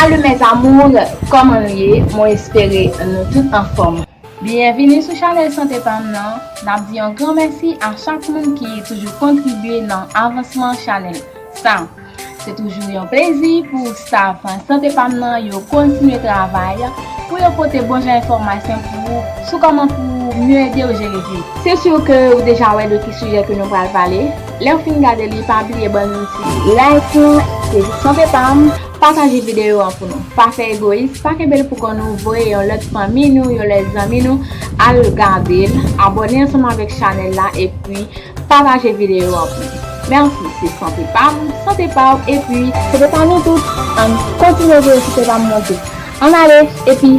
Salut mes amours Koman nou ye mwen espere nou tout anfom. Byenvini sou chanèl sante pam nan, nap di yon gran mèsi a chak moun ki toujou kontribye nan avansman chanèl sa. Se toujou yon plezi pou staff sante pam nan yo kontinye travay pou yo pote bon jan enfòmasyon pou ou sou kòman pou mye edew jere vye. Se sur ke ou deja wè de ki sijè ke nou pral pale. Lew fin gade li pa bliye bann yon ti like lan se pou santé pam. Pataje video an pou nou. Pa fè egoyis, pa kenbel pou kò nou voye yon lòt fanmi nou, yon lòt zanmi nou al gadel, abòne ansanm avèk chanèl la epi pataje video an pou nou. Merci se santé pam, santé paw epi santé pa nou tout, ann kontinye voye sante pam monte. Ann ale epi.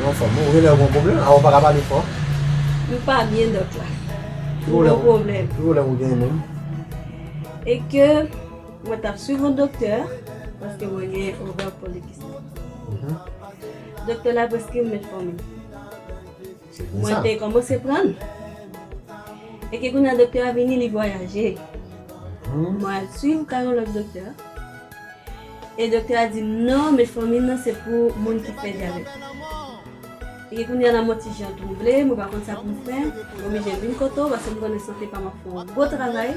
Yon fanm ou ri lèw gon pwoblèm a ou paka pale fò. Nou pa byen dòt la. Ou gon pwoblèm. Ki pwoblèm ou genyen menm? E ke mwen tap swiv yon doktè paske mwen gen ovè polikistik. Doktè la preskri m metformin. Mwen te kòmanse pran l. Eke kounya doktè a vini li vwayaje. Mwen al swiv ka yon lòt doktè. E doktè a di m non metfòmin nan se pou moun ki fè dyabèt. Eke kounya lanmò ti jan twouble mwen pa konn sa pou m fè. M oblije vin kote w paske m konnen sante pa m ap fè yon gwo travay.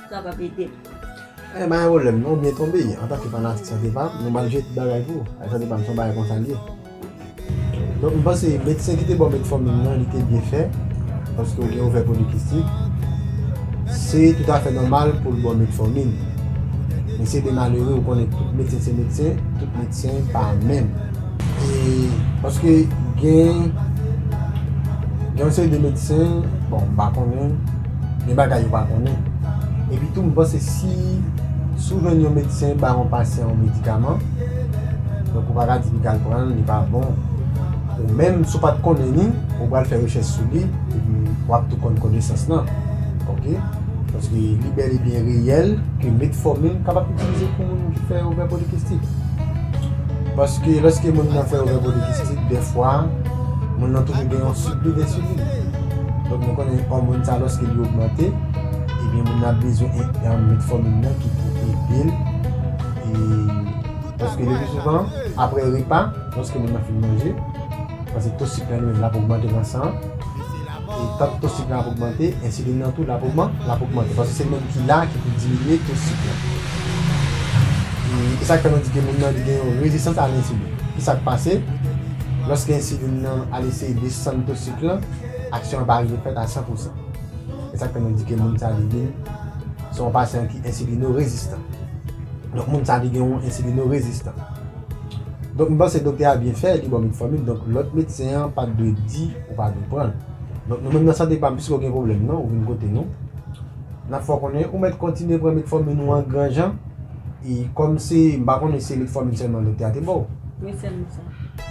Sa pap edem. Eeh pa gen pwoblèm non ou byen tonbe antanke fanatik sante pam nou malgre tout bagay pou ou avèk sante pam son bagay konsal ye donk m panse medsen kite baw metformin nan lite byen fè paske ou gen ovè polikistik se tout afè nòmal poul baw metformin men se de malere ou konnen tout medsen se medsen tout medsen pa menm e paske gen gen yon seri de medsen bon m pa konnen. Gen bagay yo pa konnen. Epi tou m panse si si w jwenn yon medsen ba yon pasyan yon medikaman, donk ou pa ka di li pral pran l, li pa bon. Ou menm si w pa t konnen ni, ou pral fè rechèch sou li epi w ap tou konn konesans lan. Ok. Paske li bèl e byen reyèl ke metfòmin kapab itilize pou moun ki fè ovè polikistik. Paske lòske moun nan fè ovè polikistik dèfwa moun nan toujou gen yon sirpli densilin. Donk nou konnen òmòn sa lòske li ogmante ebyen moun nan ap bezwen yon metfòmin nan ki pou edel paske le pi souvan apre repa lòske moun nan fin manje paske to sik lan li menm lap ogmante nan san an e tank to sik lan ap ogmante ensilin nan tou lap ogmante paske se li menm ki la ki pou diminye to sik lan esak fè nou di ke moun nan li gen yon rezistans a lensilin kisak pase lòske ensilin nan al eseye desann to sik lan. Plan aksyon an pa rive fèt a 100 pousan. E sa k fè nou di ke moun sa li vin se yon pasyan ki ensilino-rezistan. Donk moun sa li gen yon ensilino-rezistan. Donk m panse doktè a byen fè, li ba w metfòmin, donk lòt medsen an pa t dwe di ou pa dwe pran l. Donk nou menm nan sante pa m, piske w gen pwoblèm nan, ou vin kote nou, n ap fè w konnen ou mèt kontinye pran metfòmin ou an gran jan e kòm se, m pa konnen se metfòmin sèlman doktè a te ba w. Wi sèlman sa.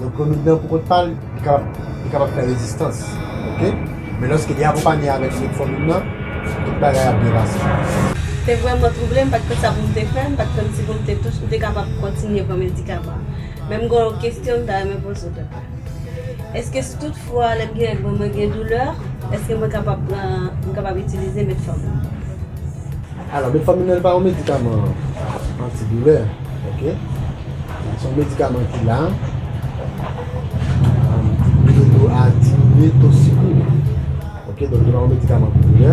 Yon komedan pou kont pa l, li kapab, li kapab fè rezistans ok, men lòske li akonpanye avèk lòt fanmi m nan, tout bagay ap byen pase. Te vrèman twouble, m pa t konn sa pou m te fè, m pa t konn si pou m te tou, si m te kapab kontinye pran medikaman. Men m gen yon kesyon m ta renmen poze w doktè. Èske si tout fwa lè m gen règ mwen, mwen gen doulè, èske mwen kapab pran, m kapab itilize metfòmin? Alò, metfòminèl pa yon medikaman antidoulè, ok. Se yon medikaman ki la pou ede w a diminye to sik ou. Ok, donk li pa yon medikaman pou doulè.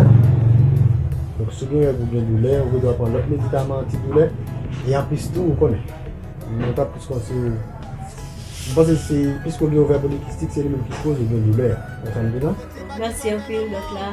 Donk si w gen règ ou gen doulè, ou gen dwa pran lòt medikaman antidoulè. E anplis tou, ou konnen, mwen ta plis konseye w, mwen panse se piske w gen ovè polikistik se li menm ki koz ou gen doulè a. Konprann m byen la? Mèsi anpil dòk la.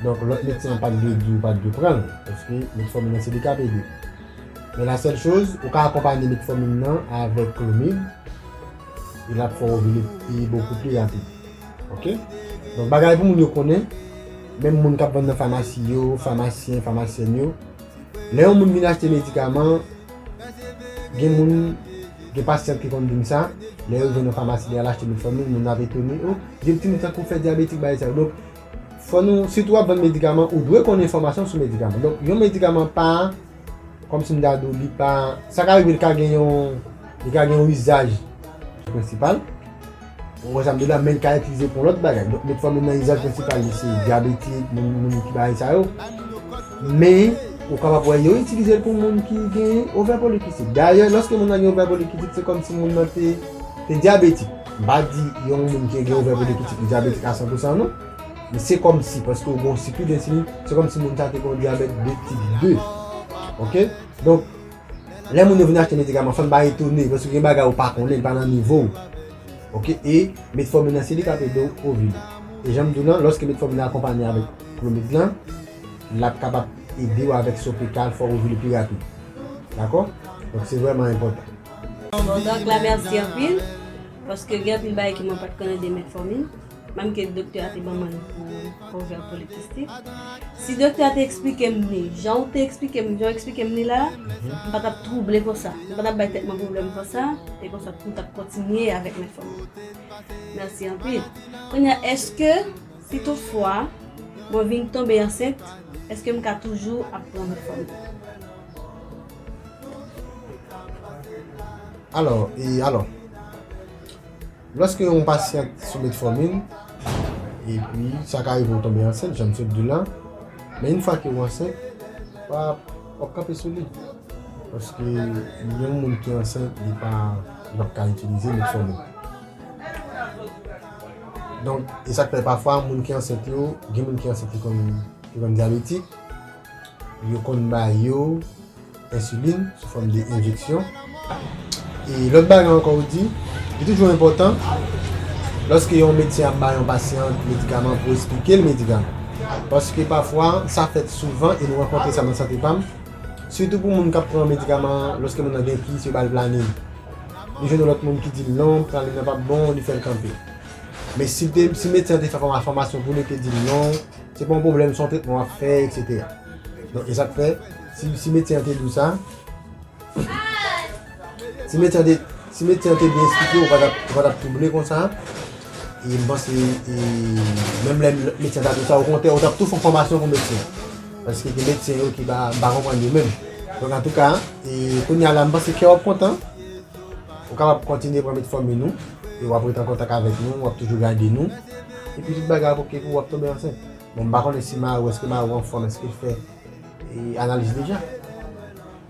Donk lòt medsen an pat dwe diw ou pat dwe pranl paske metformin nan se li kap edew. Men la sèl choz ou ka akonpanye metformin nan avèk clomid e lap fè w ovile pi bokou pi rapid ok. Donk bagay pou moun yo konnen menm moun kap vann nan famasi yo, famasyen, famasyèn yo lè yon moun vin achte medikaman gen moun gen pasyant ki konn dim sa lè yo jwenn nan famasi li al achte metformin moun nan ap etone oh gen ti moun sa kou fè dyabetik bay sa. Fò nou, si tou wap vann medikaman, ou dwe konn enfòmasyon sou medikaman. Donk, yon medikaman pa, kòm si m ta di w, li pa, sa ka rive li ka gen yon, li ka gen yon izaj prensipal, ou wè sa m di w la, men li ka itilize pou yon lòt bagay. Donk, metfòmin nan izaj prensipal li se dyabetik, moun, moun ki bagay sa yo. Men, ou kapab wè yo itilize l pou moun ki gen ovè polikistik. Dayè, lòske moun nan gen ovè polikistik, se kòm si moun nan te, te dyabetik. M pa di yon moun ki gen ovè pou li pitit li dyabetik a san pou san non. Men se kòmsi paske ou gen yon sikwi densilin, se kòmsi moun sa te gen yon dyabèt de tip 2. Ok? Donk, lè moun yo vin achte medikaman fò n pa etone paske gen bagay ou pa konnen, li pa nan nivo ou. Ok? E metfòmin nan se li k ap ede w ovile. E jan m di w lan, lòske metfòmin nan akonpanye avèk klomid lan, l ap kapab ede w avèk sa w pral fè w ovile pi rapid. Dakò? Donk se vrèman enpòtan. Bon dòk la merci anpil paske gen anpil bagay ke mwen pat konnen de metformin menm ke doktè a te ban mwen li pou ovè polikistik si doktè a te eksplikem li jan ou te eksplikem li jan ou eksplikem li la m pa tap trouble konsa m pa tap bay tèt mwen problèm konsa e konsa m tap kontinye avèk metformin merci anpil kounya eske si tout fwa mwen vin tonbe ansent eske m ka toujou ap pran metformin. Alò, e alò, lòske yon pasyant sou metformin, epi sa ka rive ou tonbe ansent, jan m sot di w la, men yon fwa ke ou ansent, pa, wap kanpe sou li, paske yon moun ki ansent, li pa, li pap ka itilize metformin. Donk, e sak fè pafwa moun ki ansent yo, gen moun ki ansent ki konn, ki konn dyabetik. Yo konn ba yo ensilin sou fòm de enjeksyon. E lòt bagay ankò ou di, li toujou enpòtan lòske yon medsen ap ba yon pasyan medikaman pou esplike l medikaman. Paske pafwa sa fèt souvan e nou rankontre sa nan Sante Pa m, sitou pou moun k ap pran medikaman an lòske moun nan gen kis yo ba l planin. Li jwenn yon lòt moun ki di l non, planin nan pa p bon, li fè l kanpe. Men si medsen an te fè fòmasyon pou li, li te di l non. Se pa yon pwoblèm son tretman wap fè etc. Donk e sak fè si medsen an te diw sa Si medsen an te byen esplikew ou pa tap twouble konsa E m panse menm lè medsen an ta diw sa okontrè ou tap tou fon fòmasyon pou medsen Paske gen medsen yo ki m pa konprann yo menm Donk antouka kounya la m panse kèw ap kontan Ou kapab kontinye pran metfòmin nou e wap ret an kontak avèk nou, wap toujou gade nou epi tout bagay ap ok pou ou wap tonbe ansent. Bon m pa konnen si mari w eske mari w anfòm eske l fè analiz deja?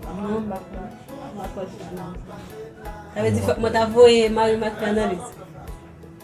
Non m pa fè m pa fè analiz. Sa vle di fòk mwen ta voye mari m al fè analiz?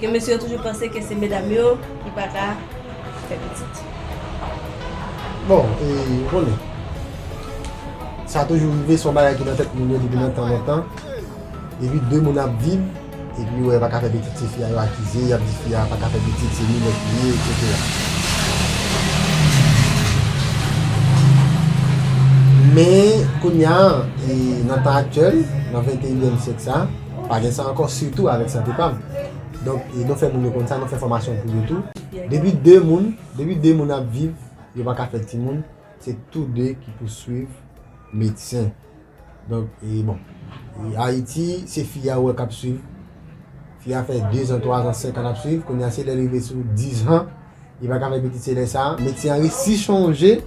Ke mesye yo toujou panse ke se medam yo ki pa ka fè pitit. Bon, e ou konnen, sa toujou rive son bagay ki nan tèt moun yo depi nan tan lontan. Depi 2 moun ap viv, epi yo wè yo pa ka fè pitit se fi a yo akize, y ap di fi a pa ka fè pitit, se minèt li ye, etsetera. Men, kounya, e nan tan aktyèl, nan venteyièm syèk sa, Pa gen sa ankò sitou avèk sante pam. Donk nou fè moun yo konn sa, nou fè fòmasyon pou yo tou. Depi 2 moun, depi 2 moun ap viv, yo pa ka fè timoun, se tou 2 ki pou swiv medsen. Donk e bon, Ayiti se fi a ou wè k ap swiv. Fi a fè 2 zan, 3 zan, 5 an l ap swiv, kounye a se lè l rive sou 10 zan. Li pa ka fè pitit se lè sa. Metye an resi chonje.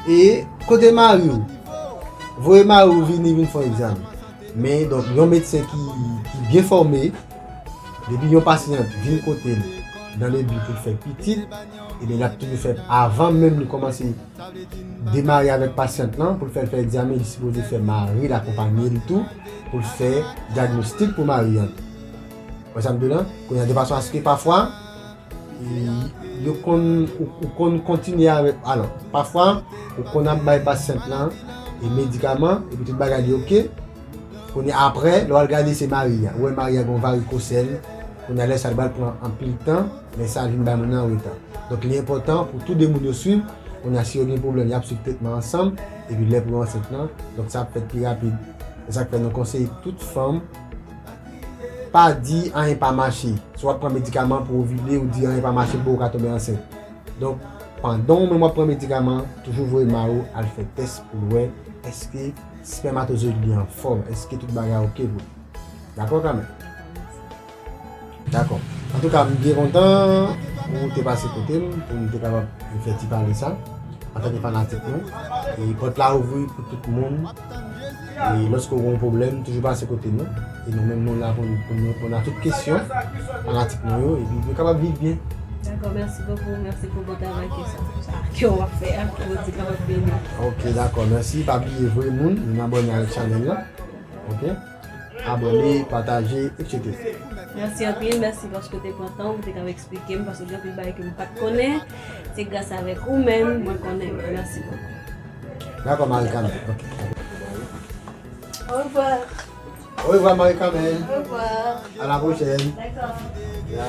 E kote mari ou? Voye mari ou vini vin fon egzamen. Men donk yon medsen ki byen fòme, depi yon pasyan vin kote l nan le bi pou l fè pitit, ebyen l ap toujou fè avan menm li kòmanse demare avèk pasyant lan pou l fè l fè egzamen, li sipoze fè mari l akonpanye l tou pou l fè dyagnostik pou mari an tou. Wè sa m di w la? Kounye a de fason aske pafwa. Yo konn ou konn kontinye avèk alò pafwa ou konn ap bay pasyant lan e medikaman epi tout bagay li ok kounye aprè lè wal gade se mari a ou wè mari a gon varikosèl kounye lè sa li bal pran anpil tan lè sa vin bay moun nan anreta donk li enpòtan pou tou 2 moun yo swiv kounye si yo gen pwoblèm yap swiv tretman ansanm epi lè pou yo ansent lan donk sa ap fèt pi rapid esak fè nou konseye tout fanm Pa di anyen pa mache. Si w ap pran medikaman pou ovile, ou di anyen pa mache pou ou ka tonbe ansent. Donk, pandan ou menm w ap pran medikaman, toujou voye mari w al fè tès pou l wè èske spèmatozoyid li an fòm, èske tout bagay oke pou li. Dakò Kamèl? Dakò. Antouka, m byen kontan ou te pase kote m pou m te kapab fè ti pale sa antanke fanatik nou. E pòt la ouvri pou tout moun. E lòske ou gen yon pwoblèm, toujou pase kote nou. E nou menm nou la pou nou reponn a tout kesyon fanatik nou yo epi pou yo kapab viv byen. Dakò, mèsi bokou. Mèsi pou bon travay ke sa ke w ap fè a. Ke Bondye kapab beni w. Ok, dakò. Mèsi. Pa bliye voye moun vin abòne avèk chanèl la. Ok. Abone, pataje etc. Merci anpil merci paske ou te pran tan ou pou te kab esplike m paske gen anpil bagay ke m pat konnen se gras avek ou menm mwen konnen yo merci beaucoup. Dako Maricamè ok Au revoir Au revoir Maricamè Au revoir A la prochèn Dako Ya.